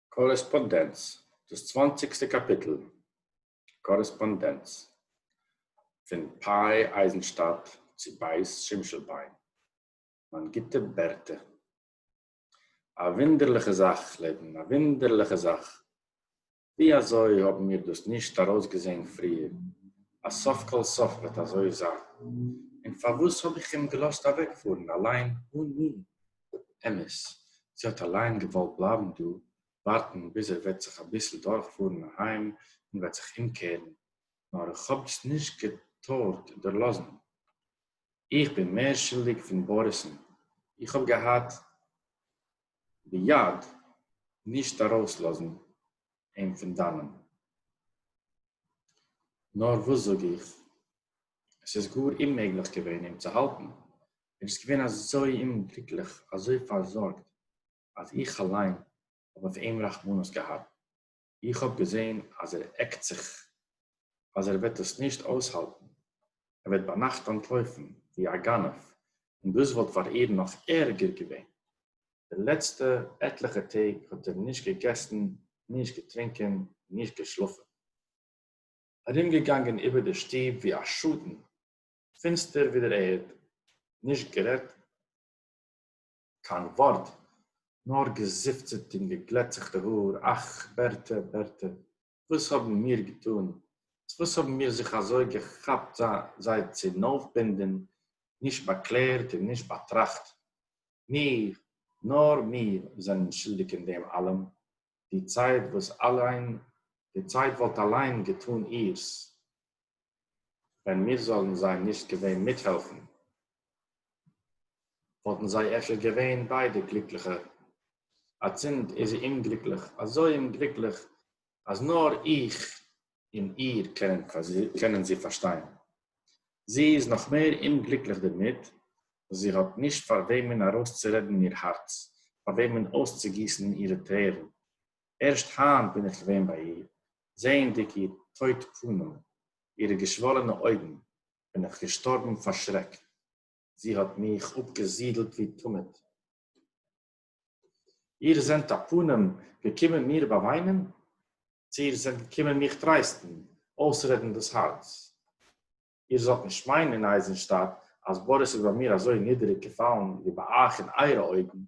קארעספאנדענץ, דאס צוואנציגסטע קאפיטל, קארעספאנדענץ, פון פאי אייזנשטאדט צו בית שימשלביין, מיין גוטע בערטע, א וואונדערליכע זאך, לעבן, א וואונדערליכע זאך, ווי אזוי האבן מיר דאס נישט ארויסגעזען פריער אז סוף כל סוף וועט אזוי זיין? און פארוואס האב איך אים געלאזט אוועקפארן אליין אן מיר? אמת, זי האט אליין געוואלט בלייבן דא ווארטן ביז ער וועט זיך אביסל דורכפארן אהיים און וועט זיך אומקערן, נאר איך האב עס נישט געטארט דערלאזן. איך בין מער שולדיג פון בוריס'ן, איך האב געהאט ביד נישט ארויסלאזן אים פון דאנען. נאר וואס זאג איך, עס איז גאר אוממעגליך געווען אים צו האלטן, ער איז געווען אזוי אומגליקליך, אזוי פארזארגט, אז איך אליין האב אויף אים רחמנות געהאט. איך האב געזען אז ער עקט זיך אז ער וועט עס נישט אויסהאלטן, ער וועט ביינאכט אנטלויפן ווי א גנב, און דאס וואלט פאר איהם נאך ערגער געווען. די לעצטע עטליכע טעג האט ער נישט געגעסן, נישט געטרינקען, נישט געשלאפן. ארומגעגאנגען איבער די שטוב ווי א שטן, פינסטער ווי דער ערד, נישט גערעדט, קיין ווארט, נאר געזיפצעט און געגלעטצעכטע האר, אך, בערטע, בערטע, וואס האבן מיר געטאן? צו וואס האבן מיר זיך אזוי געכאפט זיי צונויפבינדען, נישט באקלערט און נישט באטראכט? מיר, נאר מיר, זענען שולדיג אין דעם אלעם, די צייט וואס אליין די צייט וואלט אליין געטאן אירס ווען מיר זאלן זיי נישט געווען מיטהעלפן וואלטן זיי אפשר געווען ביידע גליקליכע אצינד איז זי אומגליקליך אזוי אומגליקליך אז נאר איך און איר קענען זי פארשטיין. זי איז נאך מער אומגליקליך דערמיט, וואס זי האט נישט פאר וועמען ארויסצורעדן איר הארץ, פאר וועמען אויסצוגיסן אירע טרערן. ערשט היינט בין איך געווען ביי איר, זעענדיג איר טויט פנים, אירע געשוואלענע אויגן, בין איך געשטארבן פאר שרעק. זי האט מיך אפגעזידלט ווי תמיד. איר זענט אַ פּנים געקומען מיר באַוויינען? צי איר זענט געקומען מיך טרייסטן, אויסרעדן דאָס האַרץ? איר זאָלט נישט מיינען, אין אייזנשטאַט, אַז באָריס איז ביי מיר אַזוי נידעריק געפאַלן, ווי ביי אייך אין אייערע אויגן.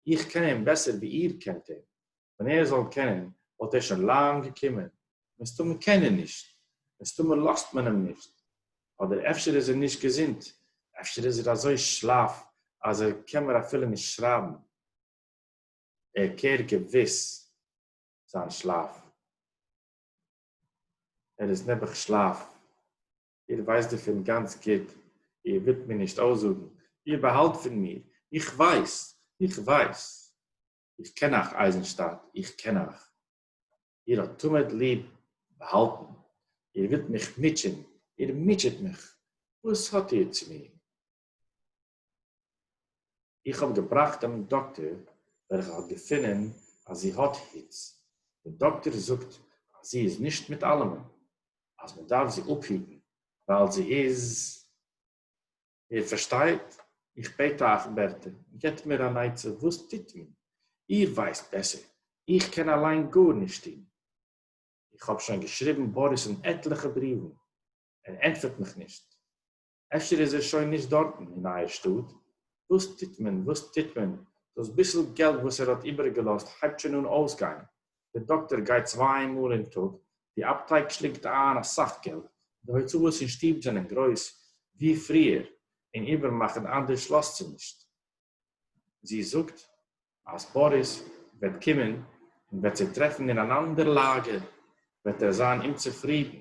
איך קען אים בעסער, ווי איר קענט אים. ווען ער זאל קענען וואלט ער שוין לאנג געקומען, מסתמא קען ער נישט, מסתמא לאזט מען אים נישט, אדער אפשר איז ער נישט געזונט, אפשר איז ער אזוי שלאף אז ער קען מער אפילו נישט שרייבן, ער קערט געוויס זיין שלאף, ער איז נעבעך שלאף, איר ווייסט דערפון גאנץ גוט, איר ווילט מיר נישט אויסזאגן, איר באהאלט פון מיר, איך ווייס, איך ווייס. איך קען אייך, אייזנשטאַט, איך קען אייך. איר האָט תּמיד ליב באַהאַלטן. איר ווילט מיך מוטשען, איר מוטשעט מיך. וואָס האָט איר צו מיר? איך האָב געבראַכט דעם דאָקטער, וועלכער האָט געפֿונען, אַז זי האָט היץ. דער דאָקטער זאָגט, אַז זי איז נישט מיט אַלעמען, אַז מע דאַרף זי אָפּהיטן, ווײַל זי איז. איר פארשטייט? איך בעט אייך בערטער, געבט מיר אן עצה וואס טוט מען? איר ווייסט בעסער, איך קען אליין גארנישט טון. איך האב שוין געשריבן באריס'ן עטליכע בריוון, ער ענטפערט מיך נישט. אפשר איז ער שוין נישט דארטן אין אייער שטאט? וואס טוט מען, וואס טוט מען, דאס ביסל געלט וואס ער האט איבערגעלאזט הייבט שוין אן אויסגיין, דער דאקטער גייט צוויי מאל אין טאג, די אפטייק שלינגט איין אסאך געלט, די הוצאות אין שטוב זענען גרויס ווי פריער, און איבער מאכן אנדערש לאזט זי נישט. זי זאגט אז באריס וועט קומען און וועט זי טרעפן אין אן אנדער לאגער, וועט ער זיין אומצופרידן.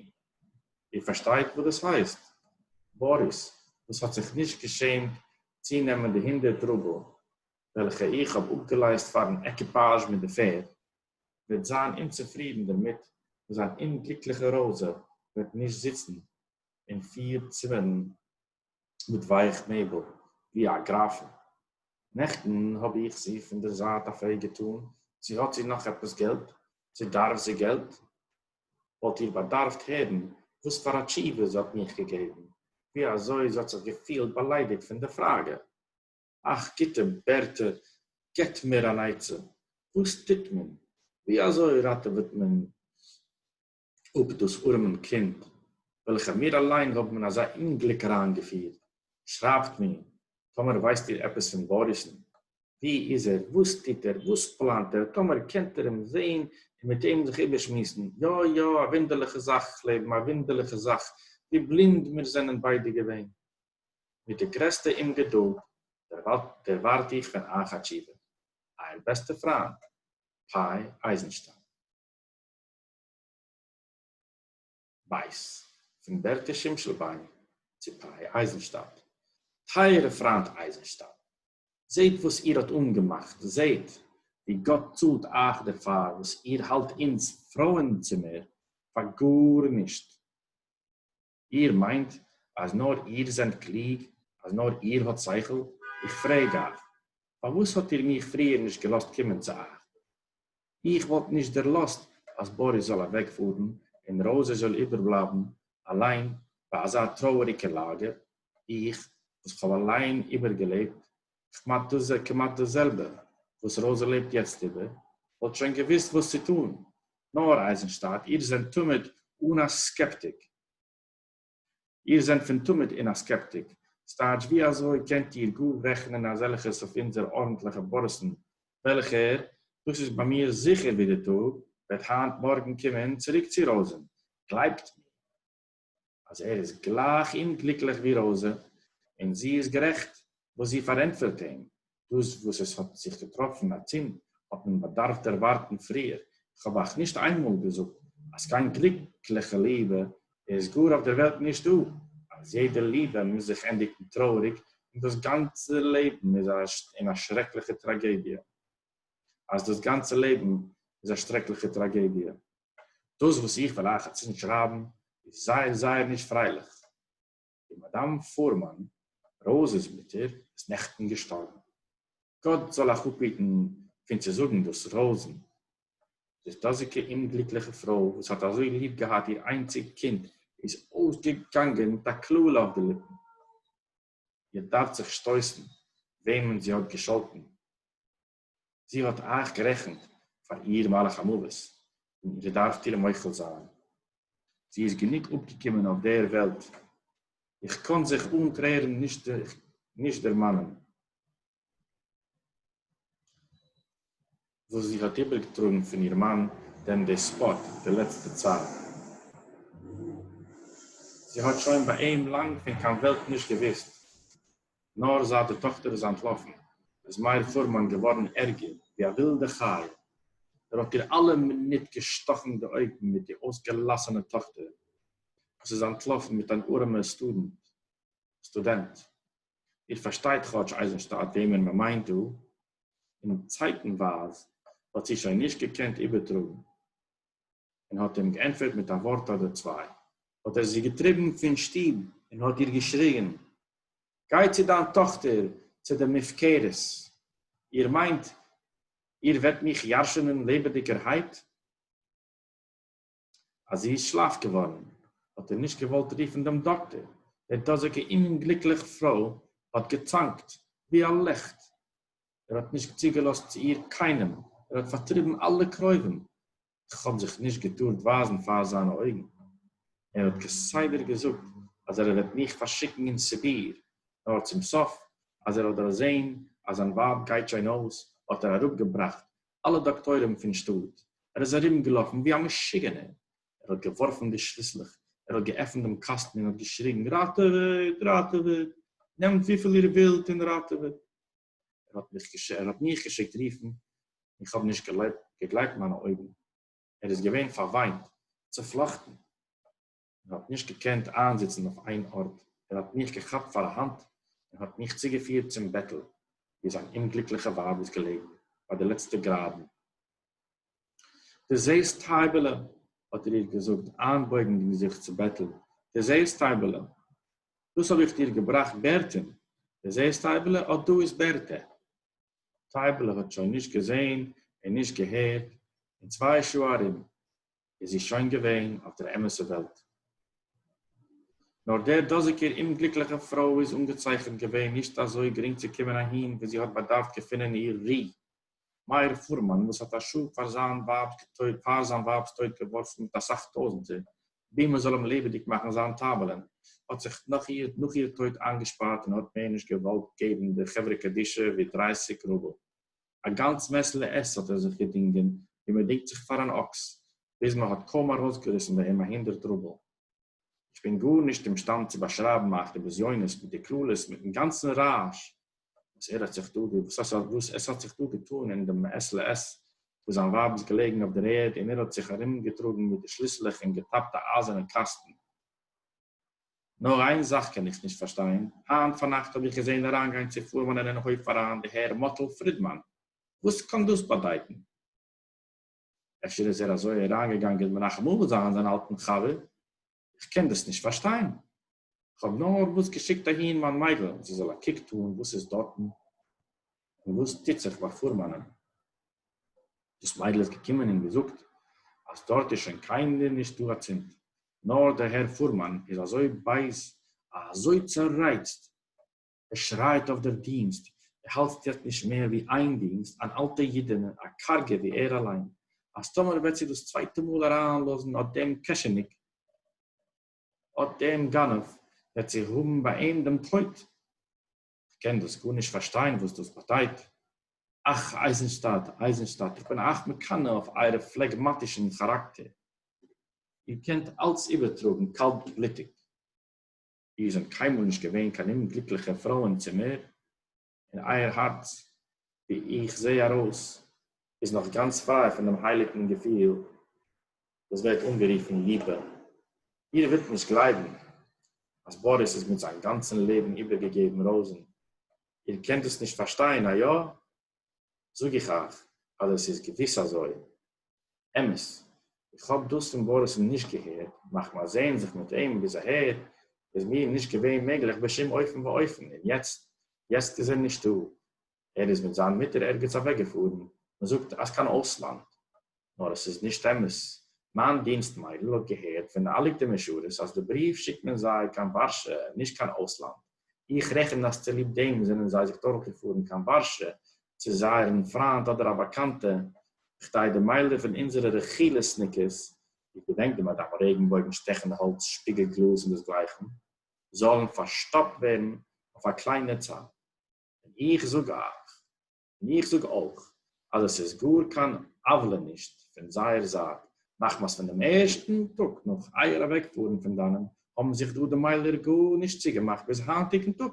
איר פארשטייט וואס דאס הייסט? באריס, וואס האט זיך נישט געשעמט צונעמען די הונדערט רובל, וועלכע איך האב אפגעלייזט פארן עקיפאזש מיט די פערד, וועט זיין אומצופרידן דערמיט וואס זיין אומגליקליכע ראזע וועט נישט זיצן אין פיר צימערן מיט ווייעך מעבל ווי א גראפן. נעכטן האב איך זי פון דער זייט א פרעג געטאן צי האט זי נאך עפעס געלט, צי דארף זי געלט. וואלט איר באדארפט הערן וואס פאר א תשובה זי האט מיך געגעבן, ווי אזוי זי האט זיך געפילט באליידיגט פון די פראגע. אך גוטע ווערטער געבט מיר אן עצה, וואס טוט מען? ווי אזוי ראטעוועט מען אפ דאס ארעמען קינד וועלכע מיר אליין האבן אין אזא אומגליק אריינגעפירט? שרייבט מיר טאמער ווייסט איר עפעס פון באריס'ן, ווי איז ער, וואס טוט ער, וואס פלאנט ער, טאמער קענט איר אים זען און מיט אים זיך איבערשמועסן, יא יא, א וואונדערליכע זאך, כ'לעב א וואונדערליכע זאך, ווי בלינד מיר זענען ביידע געווען. מיט די גרעסטע אומגעדולד דערווארט איך פון אייך א תשובה. אייער בעסטע פריינד, פאי אייזנשטיין. בית, פון בערטע שימשלביין צו פאי אייזנשטאט. טייערע פריינד אייזנשטיין, זעט וואס איר האט אנגעמאכט, זעט ווי גאט צאלט אייך דערפאר וואס איר האלט אונז פרויען-צימער פאר גארנישט. איר מיינט אז נאר איר זענט קלוג? אז נאר איר האט שכל? איך פרעג אייך, פארוואס האט איר מיך פריער נישט געלאזט קומען צו אייך? איך וואלט נישט דערלאזט אז באריס זאל אוועקפארן און ראזע זאל איבערבלייבן אליין ביי אזא טרויעריגע לאגער, איך וואס כ'האב אליין איבערגעלעבט כמעט דאס כמעט דאס זעלבע וואס ראזע לעבט יעצט איבער, וואלט שוין געוואוסט וואס צו טון. נאר אייזנשטאט, איר זענט תמיד אן א סקעפטיק. איר זענט פון תמיד אן א סקעפטיק. ס'טייטש ווי אזוי קענט איר גאר רעכענען אזעלכעס אויף אונזער ארנטליכע באריסן וועלכער, דאס איז ביי מיר זיכער ווי די טאג, וועט היינט מארגן קומען צוריק צו ראזען. גלייבט מיר. אז ער איז גלייך אומגליקליך ווי ראזע, און זי איז גערעכט וואס זי פארענטפערט אים, דאס וואס עס האט זיך געטראפן אצינד האט מען באדארפט דערווארטן פריער, איך האב אייך נישט איינמאל געזאגט אז קיין גליקליכע ליבע איז גאר אויף דער וועלט נישטא, אז יעדע ליבע מוז זיך ענדיגן טרויעריג און דאס גאנצע לעבן איז אין א שרעקליכע טראגעדיע. אז דאס גאנצע לעבן איז א שרעקליכע טראגעדיע. דאס וואס איך וועל אייך אצינד שרייבן איז זייער זייער נישט פרייליך. די מאדאם פורמאן, ראוזע'ס מוטער, איז נעכטן געשטארבן. גאט זאל אייך אפהיטן פון צו זאגן דאס ראוזע'ן, דאס דאזיגע אומגליקליכע פרוי וואס האט אזוי ליב געהאט איר איינציג קינד איז אויסגעגאנגען מיט א קללה אויף די ליפן. איר דארפט זיך שטויסן וועמען זי האט געשאלטן. זי האָט אײַך גערעכנט פֿאַר איר מלאך-המװת, און איר דאַרפֿט איר מוחל זײַן. זי איז גענוג אָפּגעקומען אױף דער װעלט. איך קאָן זיך אָן טרערן נישט דערמאַנען, װאָס זי האָט איבערגעטראָגן פֿון איר מאַן דעם דעספּאָט די לעצטע צײַט. זי האָט שױן באַ אים לאַנג פֿון קײן װעלט נישט געװוּסט. נאָר זײַט די טאָכטער איז אַנטלאָפֿן, איז מאיר פֿורמאַן געװאָרן ערגער, װי אַ װילדע חיה. ער האָט איר אַלע מינוט געשטאָכן די אױגן מיט די אױסגעלאַסענע טאָכטער, װאָס איז אַנטלאָפֿן מיט אַן אָרעמער סטודענט, סטודענט. איר פֿאַרשטײט כאָטש, אײַזנשטאַט, װעמען מע מײנט דאָ? און צײַטנװײַז האָט זי שױן נישט געקענט איבערטראָגן, און האָט אים געענטפֿערט מיט אַ װאָרט אָדער צװײ. האָט ער זי געטריבן פֿון שטוב און האָט איר געשריגן, גײ צו דײַן טאָכטער צו די מופֿקרות! איר מײנט, איר װעט מיך ירשענען לעבעדיקערהײט? אַז זי איז שלאַף געװאָרן, האָט ער נישט געװאָלט רופֿן דעם דאָקטער. די דאָזיקע אומגליקלעך פֿרױ האָט געצאַנקט, װי אַ ליכט. ער האט נישט צוגעלאזט צו איר קיינעם, ער האט פארטריבן אלע קרובים, איך האב זיך נישט געטארט ווייזן פאר זיינע אויגן, ער האט כסדר געזאגט אז ער וועט מיך פארשיקן אין סיביר, נאר צום סוף אז ער האט דערזען אז זיין ווייב גייט שוין אויס האט ער אראפגעבראכט אלע דאקטוירים פון שטאט, ער איז ארומגעלאפן ווי א משוגענער, ער האט געווארפן די שליסלעך, ער האט געעפנט דעם קאסטן און האט געשריגן ראטעוועט, ראטעוועט, נעמט וויפיל איר ווילט און ראטעוועט. ער האט מיך געש ער האט מיך געשיקט רופן, איך האב נישט געלעב געגלייבט מיינע אויגן, ער איז געווען פארוויינט, צופלאכטן, ער האט נישט געקענט איינזיצן אויף איין ארט, ער האט מיך געכאפט פאר א האנט און האט מיך צוגעפירט צום בעטל ווי זיין אומגליקליכע ווייב איז געלעגן ביי די לעצטע גראדן. דו זעסט טײַבעלע? האָט ער איר געזאָגט, אײַנבויגנדיק זיך צו בעטל. דו זעסט טײַבעלע? דאָס האָב איך דיר געבראַכט בערטען. דו זעסט טײַבעלע? אָט דאָ איז בערטע. טײַבעלע האָט שוין נישט געזען און נישט געהערט, אין צוויי שעה אַרום איז זי שוין געווען אויף דער אמתער וועלט. נאָר דער דאָזיקער אומגליקלעכער פֿרוי איז אָנגעצייכנט געווען נישט אַזוי גרינג צו קומען אַהין, וווּ זי האָט באַדאַרפֿט געפֿינען איר רו, מאיר פורמאן וואס האט א שעה פאר זיין ווייב'ס טויט געווארפן מיט אסאך טויזענטער בי מען זאל אים לעבעדיג מאכן זיין טאוועלען האט זיך נאך איר טויט איינגעשפארט און האט מער נישט געוואלט געבן די חברה קדישא ווי דרייסיג רובל א גאנץ מעסעלע עס האט ער זיך געדינגען ווי מען דינגט זיך פאר אן אקס ביז מען האט קוים ארויסגעריסן ביי אים א הונדערט רובל. איך בין גארנישט אומשטאנד צו באשרייבן מיין כ'בזיונות מיט די קללות מיטן גאנצן רעש וואס ער האט זיך דא וואס עס האט זיך דא געטאן אין דעם מעת לעת וואס זיין ווייב איז געלעגן אויף דער ערד און ער האט זיך ארומגעטראגן מיט די שליסלעך און געטאפט א אייזערנעם קאסטן. נאר איין זאך קען איך נישט פארשטיין, היינט פארנאכט האב איך געזען אריינגיין צו פארמאנען אין הויף אריין די הער מאטל פרידמאן, וואס קאן דאס באדייטן? אפשר איז ער אזוי אריינגעגאנגען מנחם אבא זיין זיין אלטן חבר, איך קען דאס נישט פארשטיין, כ'האב נארוואס געשיקט אהין מיין מיידל זי זאל א קוק טאן וואס איז דארטן און וואס טוט זיך ביי פורמאנען, דאס מיידל איז געקומען און געזאגט אז דארט איז שוין קיינער נישט דא אצינד, נאר דער הער פורמאן איז אזוי בייז, אזוי צערייצט, ער שרייט אויף דער דינסט, ער האלט יעצט נישט מער ווי איין דינסט, אן אלטע אידענע, א קארגע ווי ער אליין, אז טאמער וועט זי דאס צווייטע מאל אריינלאזן אט דעם קעשעניק, אט דעם גנב, וועט זי האבן ביי אים דעם טויט. כ'קען דאס גארנישט פארשטיין וואס דאס באדייט. אך, אייזנשטאדט, אייזנשטאדט, איך בין אייך מקנא אויף אייער פלעגמאטישן כאראקטער. איר קענט אלץ איבערטראגן קאלטבלוטיג. איר זענט קיינמאל נישט געווען קיין אומגליקליכע פרוי אין צימער, און אייער הארץ, ווי איך זע ארויס, איז נאך גאנץ פריי פון דעם הייליגן געפיל וואס ווערט אנגערופן ליבע. איר ווילט נישט גלייבן אז באריס איז מיט זיין גאנצן לעבן איבערגעגעבן ראוזן. איר קענט דאס נישט פארשטיין, איה? זאג איך אייך אז עס איז געוויס אזוי. אמת, איך האב דאס פון באריס'ן נישט געהערט, מחמת זעהן זיך מיט אים ביז אהער איז מיר נישט געווען מעגליך בשום אופן ואופן, און יעצט, יעצט איז ער נישטא, ער איז מיט זיין מוטער ערגעץ אוועקגעפארן, מען זאגט אז קיין אויסלאנד. נאר עס איז נישט אמת. מיין דינסט מיידל האט געהערט פון די אליטע משרת אז די בריוו שיקט מען זיי קיין ווארשע נישט קיין אויסלאנד, איך רעכן אז צוליב דעם זענען זיי זיך דורך געפארן קיין ווארשע צו זייערן פריינט אדער א באקאנטע כדי די מיילער פון אונזערע רכילות'ניקעס, איך געדענק די מאדאם רעגנבויגן שטעכן האלץ שפיגל גלאז און דאס גלייכן, זאלן פארשטאפט ווערן אויף א קליינע צייט. און איך זאג אייך. און איך זאג אויך אז עס איז גאר קיין עוולה נישט פון זייער זייט, מחמת פון דעם ערשטן טאג נאך אייער אוועקפארן פון דאנען האבן זיך דא די מיילער גארנישט צוגעמאכט ביז היינטיגן טאג.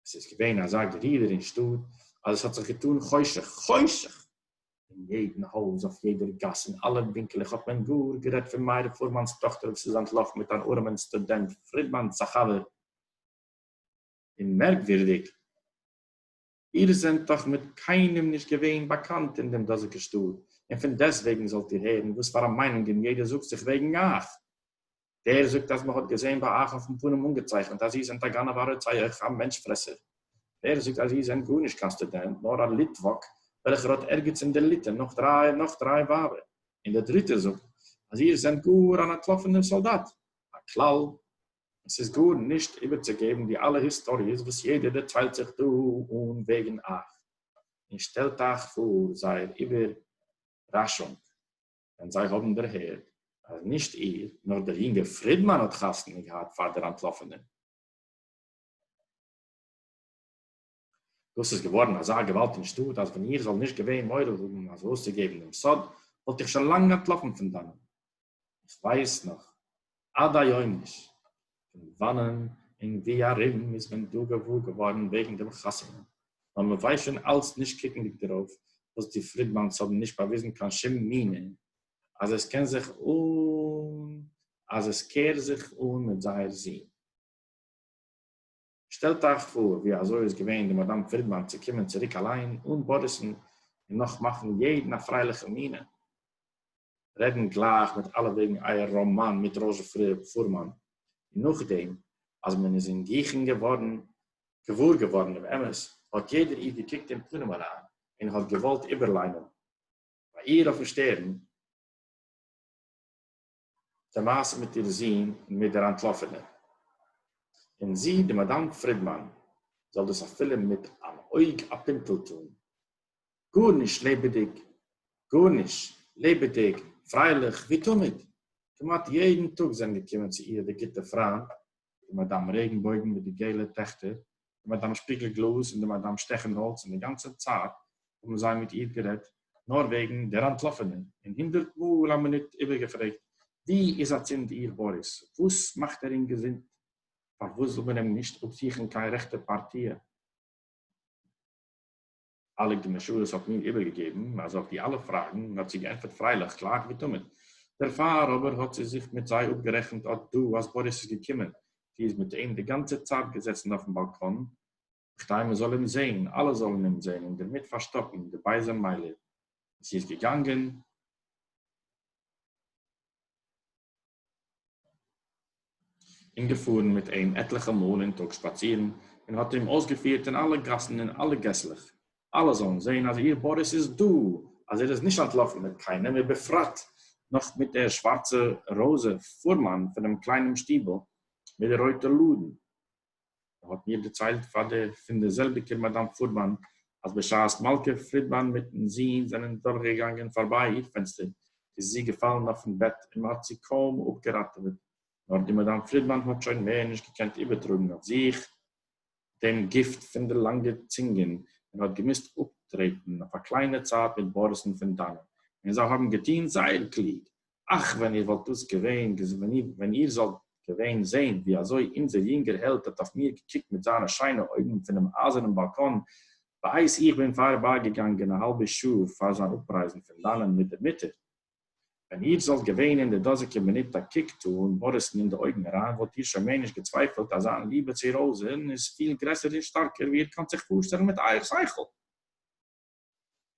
עס איז געווען אזא גערודער אין שטאט אז עס האט זיך געטאן חושך, חושך! אין יעדן הויז, אויף יעדער גאס, אין אלע ווינקלעך האט מען גאר גערעדט פון מאיר פורמאן'ס טאכטער וואס איז אנטלאפן מיט אן ארעמען סטודענט פרידמאן'ס א חבר. און מערקווירדיג איר זענט דאָך מיט קיינעם נישט געווען באַקאַנט אין דעם דאָזיקן שטאָט, און פֿון דעסטוועגן זאָלט איר הערן, וואָס פֿאַר אַ מיינונגען יעדער זאָגט זיך וועגן אײַך. דער זאָגט, אַז מע האָט געזען בײַ אײַך אויפֿן פּנים אָנגעצייכנט, אַז איר זענט אַ גנבֿ, אַ רוצח, אַ מענטש-פֿרעסער. דער זאָגט, אַז איר זענט גאָר נישט קיין סטודענט, נאָר אַ ליטוואַק, וועלכער האָט ערגעץ אין דער ליטע נאָך דרײַ, נאָך דרײַ ווײַבער. און דער דריטער זאָגט, אַז איר זענט גאָר אַן אַנטלאָפֿענער סאָלדאַט, אַ כּלל, עס איז גאר נישט איבערצוגעבן די אלע היסטאריעס וואס יעדער דערציילט זיך דא אן וועגן אייך, און שטעלט אייך פאר זייער איבערראשונג ווען זיי האבן דערהערט אז נישט איר נאר דער יונגער פרידמאן האט חתונה געהאט פאר דער אנטלאפענער. דאָס איז געװאָרן אַזאַ געװאַלד אין שטאָט, אַז װען איך זאָל נישט געװען מורא האָבן אַזױ אױסצוגעבן דעם סוד, װאָלט איך שױן לאַנג אַנטלאָפֿן פֿון דאַנען. איך װײס נאָך עד-היום נישט, פֿון װאַנען און װי אַרום איז מען דאָ געװאָר געװאָרן װעגן דעם חתונה, נאָר מע װײס שױן אַלץ, נישט קוקנדיק דערױף, װאָס די פֿרידמאַנס האָבן נישט באַװיזן קײן שום מינע, אַז עס קען זיך און אַז עס קער זיך אָן מיט זײער זון. שטעלט אייך פאר ווי אזוי איז געווען די מאדאם פרידמאן צו קומען צוריק אליין אן באריסן און נאך מאכן יעדן א פרייליכע מינע, רעדן גלייך מיט אלע וועגן אייער ראמאן מיט ראזשע פורמאן, און נאכדעם אז מען איז אין גיכן געווארן געוואר געווארן דעם אמת, האט יעדער איר געקוקט אין פנים אריין און האט געוואלט איבערליינען ביי איר אויפן שטערן, די מעשה מיט איר זון און מיט דער אנטלאפענער. און זי, די מאדאם פרידמאן, זאל דאס אפילו מיט אן אויג א פינטל טאן. גארנישט לעבעדיג, גארנישט, לעבעדיג, פרייליך, ווי תמיד. כמעט יעדן טאג זענען געקומען צו איר די גוטע פריינט, די מאדאם רעגנבויגן מיט די געלע טעכטער, די מאַדאַם שפּיגל-גלאָז און די מאַדאַם שטעכן-האָלץ, און די גאַנצע צײַט האָבן זײ מיט איר גערעדט נאָר װעגן דער אַנטלאָפֿענער און הונדערט מאָל אַ מינוט איבערגעפֿרעגט, װוּ איז אַצינד איר באָריס? װאָס מאַכט ער אין געזונט? פֿאַרװאָס זאָל מען אים נישט אָפּזוכן קײן רעכטע פּאַרטיע? אליק די משרת האט מיר איבערגעגעבן אז אויף די אלע פראגן און האט זי געענטפערט פרייליך גלייך ווי תמיד. דערפאר אבער האט זי זיך מיט זיי אפגערעכנט אט דא אז באריס איז געקומען, זי איז מיט אים די גאנצע צייט געזעצן אויפן באלקאן, כדי מען זאל אים זעהן, אלע זאלן אים זעהן און דערמיט פארשטאפן די בייזע מיילער, זי איז געגאנגען. און געפֿאָרן מיט אים עטלעכע מאָל אין טאָג שפּאַצירן, און האָט אים אױסגעפֿירט אין אַלע גאַסן און אַלע געסלעך, אַלע זאָלן זען, אַז איר באָריס איז דאָ, אַז ער איז נישט אַנטלאָפֿן מיט קײנעם, ובפֿרט נאָך מיט דער שװאַרצער ראָזע פֿורמאַן פֿונעם קלײנעם שטיבל מיט די רױטע לאָדן. ער האט מיר דערציילט פאר דער פון דער זעלביקער מאדאם פורבאן, אז בשעת מלכה פרידמאן מיטן זון זענען דורכגעגאנגען פארביי איר פענסטער, איז זי געפאלן אויפן בעט און מ'האט זי קוים אפגעראטעוועט, נאר די מאדאם פרידמאן האט שוין מער נישט געקענט איבערטראגן אויף זיך דעם גיפט פון די לאנגע צינגען און האט געמוזט אפטרעטן אויף א קליינע צייט מיט באריסן פון דאנען, און זיי האבן געטון זייער קלוג, אַך, ווען איר וואָלט דאָס געווען, ווען איר זאָלט געווען זען, ווי אַזוי אונדזער יונגער העלד האָט אויף מיר געקוקט מיט זײַנע שיינע אויגן פֿונעם אײַזערנעם באַלקאָן, בעת איך בין פֿאַרבײַגעגאַנגען אַ האַלבע שעה פֿאַר זײַן אָפּרײַזן פֿון דאַנען מיט דער מוטער! ווען איר זאָלט געווען אין דער דאָזיקער מינוט אַ קוק טאָן מאָריסן אין די אויגן אַרײַן, וואָלט איר שוין מער נישט געצווייפֿלט, אַז זײַן ליבע צו ראָזען איז פֿיל גרעסער און שטאַרקער, ווי איר קאָנט זיך פֿאָרשטעלן מיט אײַער שכל.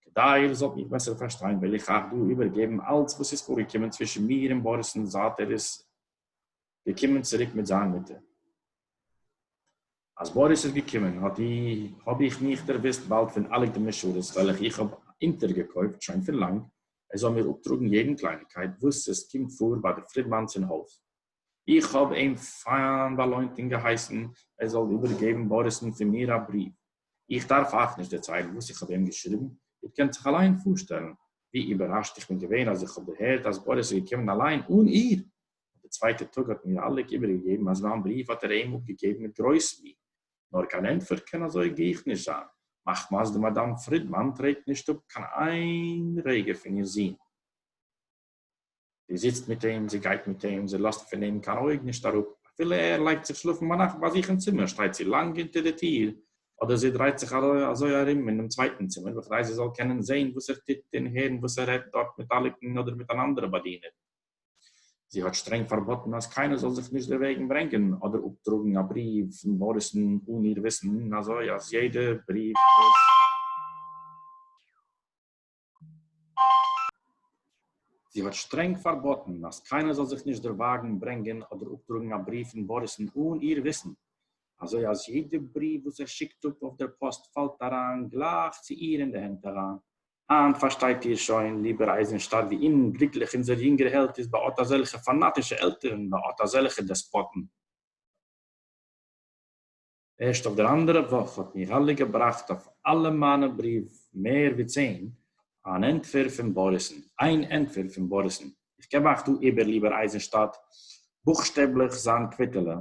כדי איר זאלט מיך בעסער פארשטיין וועל איך אייך דא איבערגעבן אלץ וואס איז פארגעקומען צווישן מיר און באריס'ן זייט ער איז געקומען צוריק מיט זיין מוטער. אז באריס איז געקומען האט אי האב איך מיך דערוויסט באלד פון אלע גדומ'נע שורות וועלכע איך האב אונטערגעקויפט שוין פון לאנג, ער זאל מיר אפטראגן יעדן קלייניגקייט וואס עס קומט פאר ביי די פרידמאן'ס אין הויז. איך האָב אים פֿײַן באַלױנט און געהײסן, ער זאָל איבערגעבן באָריסן פֿון מיר אַ בריװ. איך דאַרף אײַך נישט דערצײלן, װאָס איך האָב אים געשריבן. איר קענט זיך אַלײן פֿאָרשטעלן, װי איבערראַשט איך בין געװען, אַז איך האָב דערהערט, אַז באָריס איז געקומען אַלײן, אָן איר. אָט דער צװײטער טאָג האָט מיר אַלעק איבערגעגעבן, אַז מײַן בריװ האָט ער אים אָפּגעגעבן מיט גרױס מי. נאָר קײן ענטפֿער קאָן אַזױ גיך נישט זײַן, מחמת די מאַדאַם פֿרידמאַן טרעט נישט אָפּ קײן אײן רגע פֿון איר זון. זי זיצט מיט אים, זי גייט מיט אים, זי לאָזט פֿון אים קיין אויג נישט אַראָפּ. אַפֿילו ער לייגט זיך שלאָפֿן בײַ נאַכט בײַ זיך אין צימער, שטייט זי לאַנג אונטער דער טיר, אָדער זי דרייט זיך אַזוי אַרום אין דעם צווייטן צימער, בכדי זי זאָל קענען זען, וואָס ער טוט, און הערן, וואָס ער רעדט דאָרט מיט אַליקן אָדער מיט אַן אַנדערע באַדינערין. זי האָט שטרענג פֿאַרבאָטן, אַז קיינער זאָל זיך נישט דערוועגן ברענגען אָדער אָפּטראָגן אַ בריוו פֿון באָריסן אָן איר וויסן, און אַזוי, אַז יעדער בריוו, וואָס. זי האָט שטרענג פֿאַרבאָטן, אַז קיינער זאָל זיך נישט דערװאַגן ברענגען אָדער אָפּטראָגן אַ בריװ פֿון באָריסן אָן איר װיסן, אַזױ אַז יעדע בריװ, װאָס ער שיקט אָפּ אױף דער פּאָסט, פֿאַלט אַרײַן גלײַך צו איר אין די הענט אַרײַן. הײַנט פֿאַרשטײט איר שױן, ליבער אײַזנשטאַט, װי אומגליקלעך אונדזער יונגער העלד איז בײַ אָט אַזעלכע פֿאַנאַטישע עלטערן, בײַ אָט אַזעלכע דעספּאָטן. ערשט אויף דער אַנדערער וואָך האָט מיכאַלע געבראַכט אויף אַלע מײַנע בריוו, מער ווי צען, אַן ענטפֿער פֿון באָריסן, איין ענטפֿער פֿון באָריסן. איך געב אײַך דאָ איבער, ליבער אײַזנשטאַט, בוכשטעבלעך זײַן קוויטעלע,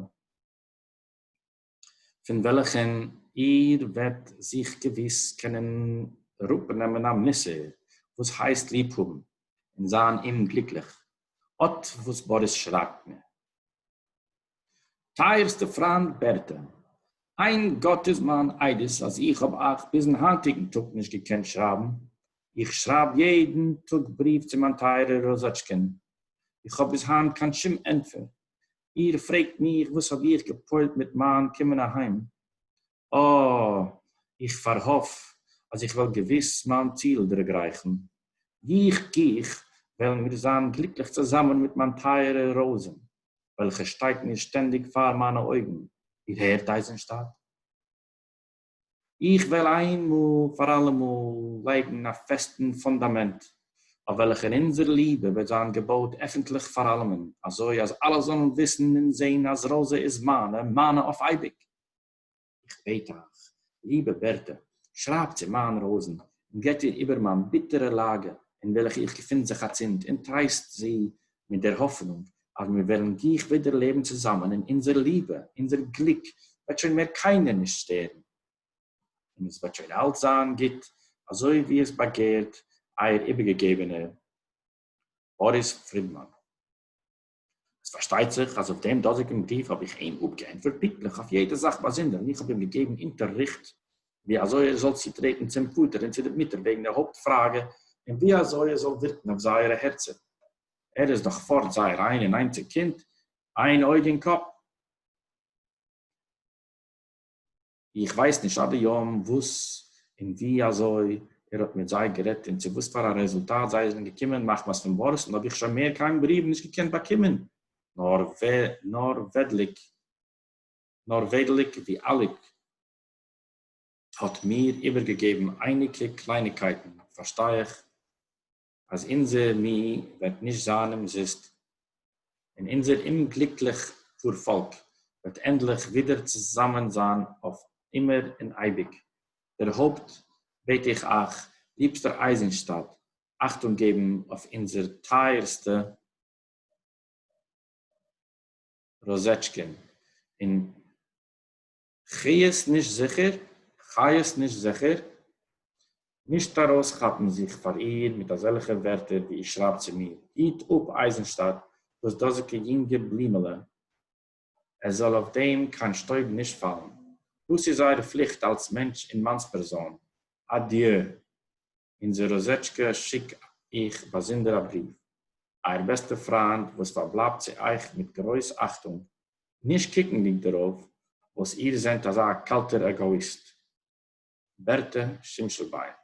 פֿון וועלכן איר וועט זיך געוויס קענען אַראָפּנעמען אַ מוסר, וואָס הייסט ליב האָבן און זײַן אומגליקלעך. אָט וואָס באָריס שרײַבט מיר. טייערסטע פריינד בערטע, איין גאט איז מיין עדות אז איך האב אייך ביזן היינטיגן טאג נישט געקענט שרייבן, איך שרייב יעדן טאג בריוו צו מיין טייערער ראזאטשקע'ן, איך האב ביז היינט קיין שום ענטפער, איר פרעגט מיך וואס האב איך גע'פועל'ט מיט מיין קומען אהיים, אָ, איך פאַרהאָף, אַז איך וועל געוויס מיין ציל דערגרייכן. גיך, גיך, וועלן מיר זיין גליקלעך צוזאַמען מיט מיין טייערע ראָזען, וועלכע שטייט מיר שטענדיק פאַר מיינע אויגן, איר הערט, אייזנשטאַט? איך וועל איינמאָל פאַר אַלעמאָל לייגן אַ פעסטן פונדאַמענט, אויף וועלכער אונזער ליבע וועט זיין געבויט עפנטלעך פאַר אַלעמען, אַזוי, אַז אַלע זאָלן וויסן און זען, אַז ראָזע איז מיינע, מיינע אויף אייביק! איך בעט אייך, ליבע בערטע, שרייבט צו מיין ראזן און גיט איר איבער מיין ביטערע לאגע אין וועלכע איך געפין זיך אצינד און טרייסט זי מיט דער האפענונג אז מיר וועלן גיך ווידער לעבן צוזאמען און אונזער ליבע, אונזער גליק וועט שוין מער קיינער נישט שטערן און עס וועט שוין אלץ זיין גוט אזוי ווי עס באגערט אייער איבערגעגעבענער באריס פרידמאן. עס פארשטייט זיך אז אויף דעם דאזיגן בריוו האב איך אים אפגעענטפערט פונקטליך אויף יעדע זאך באזונדער און איך האב אים געגעבן אונטערריכט ווי אזוי ער זאל צוטרעטן צום פאטער און צו די מוטער וועגן די הויפט פראגע און ווי אזוי עס זאל ווירקן אויף זייערע הערצער. ער איז דאך פארט זייער איין און איינציג קינד, איין אויג אין קאפ. איך ווייס נישט עד היום וואס און ווי אזוי ער האט מיט זיי גערעדט און צו וואס פאר א רעזולטאט זיי זענען געקומען, מחמת פון בארסן האב איך שוין מער קיין בריוו נישט געקענט באקומען, נאר וועדליק ווי אליק האט מיר איבערגעגעבן אייניגע קלייניגקייטן פארשטיי איך אז אונזער מי וועט נישט זיין אומזיסט, און אונזער אומגליקליך פארפאלק וועט ענדליך ווידער צוזאמען זיין אויף אימער און אייביג. דערהויפט בעט איך אייך, ליבסטער אייזנשטאדט, אכטונג געבן אויף אונזער טייערסטע רוזשקין, און. חיות נישט זיכער, חיות נישט זיכער, נישט ארויסכאפן זיך פאר איר מיט אזעלכע ווערטער ווי איר שרייבט צו מיר, היט אפ אייזנשטאט דאס דאזיקע יונגע בלימעלע, עס זאל אויף דעם קיין שטויב נישט פאלן, דאס איז אייער פליכט אלס מענטש און מאנספערזאן, אדיו. אונדזער ראָזעטשקע שיק איך באַזונדער אַ בריװ. אײַער בעסטער פֿרײַנד, װאָס פֿאַרבלײַבט צו אײַך מיט גרױס אַכטונג, נישט קוקנדיק דערױף, װאָס איר זענט אַזאַ קאַלטער עגאָיִסט. בערטע שימשלבײן.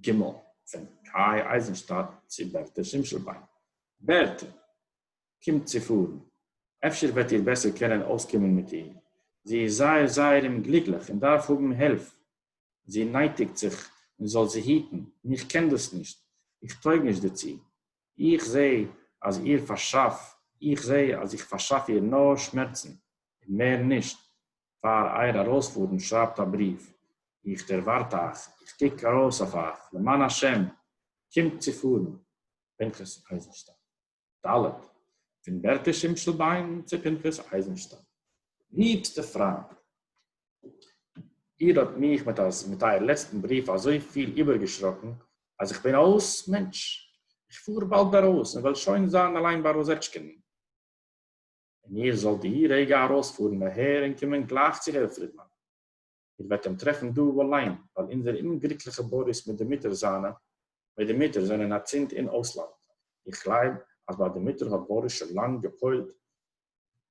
ג. פֿון קײַ אײַזנשטאַט צו בערטע שימשלבײן. בערטע! קומט צו פֿאָרן. אפֿשר װעט איר בעסער קענען אױסקומען מיט איר. זי איז זײער, זײער אומגליקלעך און דאַרף האָבן הילף. זי נייטיקט זיך מען זאל זי היטן, און איך קען דאס נישט, איך טויג נישט דערצו. איך זע אז איר פארשאף, איך זע אז איך פארשאף איר נאר שמערצן, און מער נישט. פאר אייער ארויספארן שרייבט א בריוו, איך דערווארט אייך, איך קוק ארויס אויף אייך, למען השם, קומט צו פארן. פנחס אייזנשטיין. ד' פון בערטע שימשלביין צו פנחס אייזנשטיין. ליבסטע פריינט, איר האט מיך מיט אייער לעצטן בריוו אזויפיל איבערגעשראקן, אז איך בין אויס מענטש. איך פאר באלד ארויס און וועל שוין זיין אליין ביי ראזעטשקין. און איר זאלט די רגע ארויספארן אהער און קומען גלייך צו הערר פרידמאן. איר וועט אים טרעפן דא וואו אליין, ווייל אונזער אומגליקליכע באריס מיט די מוטער זיינע, מיט די מוטער, זענען אצינד אין אויסלאנד. איך גלייב אז ביי די מוטער האט באריס שוין לאנג געפוילט,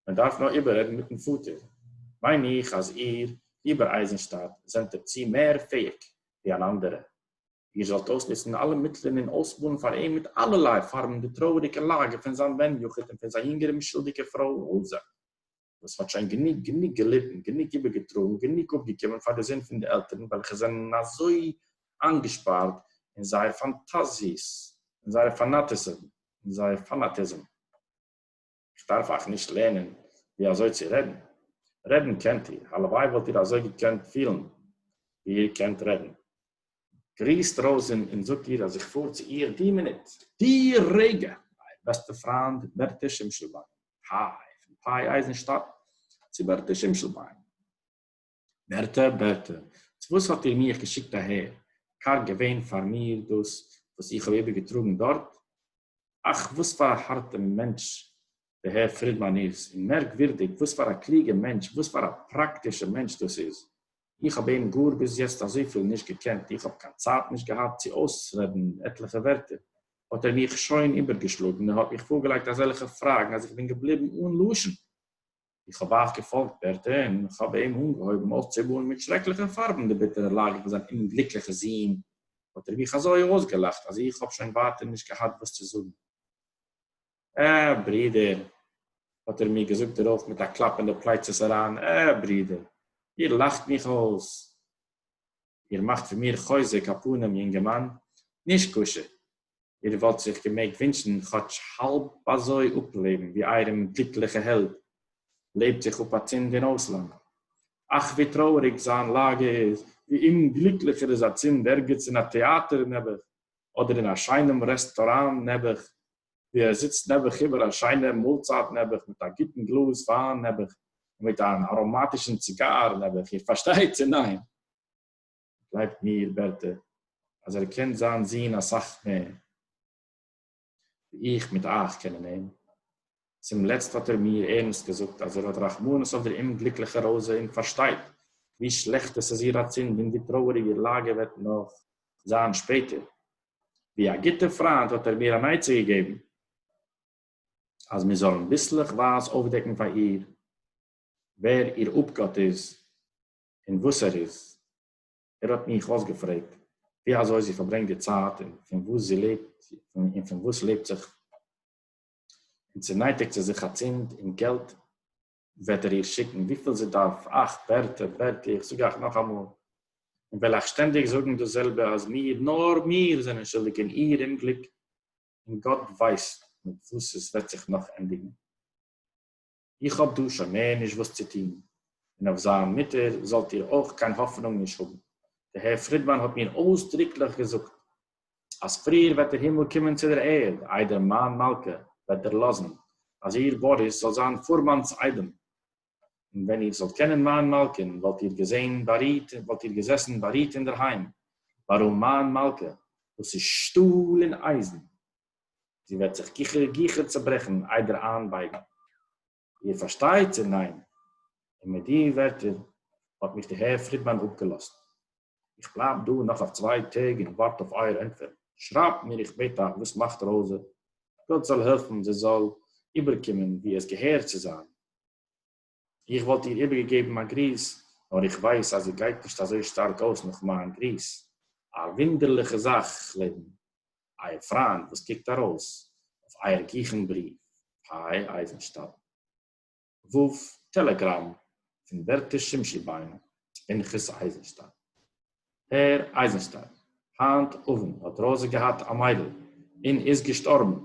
מען דארף נאר איבעררעדן מיטן פאטער. מיין איך אז איר, ליבער אייזנשטאט, זענט דערצו מער פעאיג ווי אן אנדערע. איר זאלט אויסנוצן אלע מיטלען און אויסבאנען פאר אים מיט אלערליי פארבן די טרויעריגע לאגע פון זיין בן יחיד און פון זיין יונגער אומשולדיגער פרוי רויזע. וואס מ'האט שוין גענוג גענוג געליטן, גענוג איבערגעטראגן, גענוג אפגעקומען פאר די זון פון די עלטערן וועלכע זענען אזוי איינגעשפארט אין זייער פאנטאזיעס, אין זייער פאנאטיזם, אין זייער פאנאטיזם. איך דארף אייך נישט לערנען ווי אזוי צו רעדן. רעדן קענט איר, הלוואי וואלט איר אזוי געקענט פילן ווי איר קענט רעדן. גריסט ראָזין און זאָגט איר, אַז איך פֿאָר צו איר די מינוט, די רגע, אײַער בעסטער פֿרײַנד, בערטע שימשלבײן, פּאַי, פֿון פּאַי-אײַזנשטאַט צו בערטע שימשלבײן. בערטע, בערטע, צו װאָס האָט איר מיך געשיקט אַהער? קאַרג געװען פֿאַר מיר דאָס, װאָס איך האָב איבערגעטראָגן דאָרט? אַך, װאָס פֿאַר אַ האַרטער מענטש די הער פרידמאן איז, און מערקווירדיג וואס פאר א קלוגע מענטש, וואס פאר א פראקטישע מענטש דאס איז. איך האב אים גאר ביז יעצט אזויפיל נישט געקענט, איך האב קיין צייט נישט געהאט צו אויסרעדן עטליכע ווערטער, האט ער מיך שוין איבערגעשלאגן און האט מיך פארגעלייגט אזעלכע פראגן אז איך בין געבליבן אן לשון. איך האב אייך געפאלגט ווערטער און איך האב אים אנגעהויבן אויסצומאלן מיט שרעקליכע פארבן די ביטערע לאגע פון זיין אומגליקליכע זון, האט ער מיך אזוי אויסגעלאכט אז איך האב שוין ווייטער נישט געהאט וואס צו זאגן. אה, ברודער, האָט ער מיר געזאָגט דערױף מיט אַ קלאַפּ אין די פּלײצעס אַרײַן, אה, ברודער, איר לאַכט מיך אױס! איר מאַכט פֿון מיר חוזק, אַ פּנים, יונגערמאַן, נישקשה, איר װאָלט זיך געמעגט װינטשן כאָטש האַלב אַזױ אָפּלעבן, װי אײַערן גליקלעכער העלד לעבט זיך אָפּ אַצינד אין אױסלאַנד. אַך, װי טרױעריק זײַן לאַגע איז, װי אומגליקלעך ער איז אַצינד, ערגעץ אין אַ טעאַטער, נעבעך, אָדער אין אַ שײנעם רעסטאָראַן, נעבעך, ווי ער זיצט נעבעך איבער א שיינעם מאלצייט נעבעך מיט א גוטן גלאז וויין נעבעך און מיט אן אראמאטישן ציגאר נעבעך, איר פארשטייט צו ניין? גלייבט מיר בערטע אז ער קען זיין זון אסאך מער ווי איך מיט אייך קענען אים, צום לעצט האט ער מיר ערנסט געזאגט אז ער האט רחמנות אויף דער אומגליקליכער ראזע און פארשטייט ווי שלעכט עס איז איר אצינד און ווי טרויעריג איר לאגע וועט נאך זיין שפעטער, ווי א גוטער פריינט האט ער מיר אן עצה געגעבן אז מיר זאלן ביסלעך ווייז אויפדעקן פאר איר ווער איר אפגאט איז און וואס ער איז. ער האט מיך אויסגעפרעגט ווי אזוי זי פארברענגט די צייט און פון וואס זי לעבט און פון וואס לעבט זיך און צו נייטיגט זי זיך אצינד און געלט וועט ער איר שיקן וויפיל זי דארף, אַכט, ווערטער, בערטי, איך זאג אייך נאך אמאל, און וועל אייך שטענדיג זאגן דאס זעלבע, אז מיר, נאר מיר, זענען שולדיג אין איר אומגליק, און גאט ווייסט מיט וואס עס וועט זיך נאך ענדיגן. איך האב דא שוין מער נישט וואס צו טון, און אויף זיין מוטער זאלט איר אויך קיין האפענונג נישט האבן. די הער פרידמאן האט מיר אויסדרוקליך געזאגט אַז פֿריִער װעט דער הימל קומען צו דער ערד, אײדער מײַן מלכּה װעט דערלאָזן, אַז איר, באָריס, זאָלט זײַן פֿורמאַנס אײדעם. און װען איר זאָלט קענען מײַן מלכּהן, װאָלט איר געזען באַרוט, װאָלט איר געזעסן באַרוט אין דער הײם. װאָרום מײַן מלכּה, װאָס איז שטאָל און אײַזן, זי װעט זיך גיכער, גיכער צעברעכן, אײדער אײַנבײגן. איר פארשטייט צו ניין? און מיט די ווערטער האט מיך די הער פרידמאן אפגעלאזט. איך בלייב דא נאך אויף צוויי טעג און ווארט אויף אייער ענטפער. שרייבט מיר איך בעט אייך וואס מאכט ראוזע? גאט זאל העלפן זי זאל איבערקומען ווי עס געהער צו זיין. איך וואלט איר איבערגעגעבן א גריס נאר איך ווייס אז זי גייט נישט אזוי שטארק אויס נאך מיין גריס. א וואונדערליכע זאך לעבן. אייער פריינד וואס קוקט ארויס אויף אייער גיכן בריוו פאי אייזנשטאדט ו טעלעגראם פון ווערטער שמשי ביין פנחס אייזנשטאדט. הער אייזנשטאדט, היינט אוונט האט ראזע געהאט א מיידל און איז געשטארבן.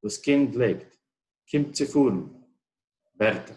דאס קינד לעבט. קומט צו פארן. ווערטער.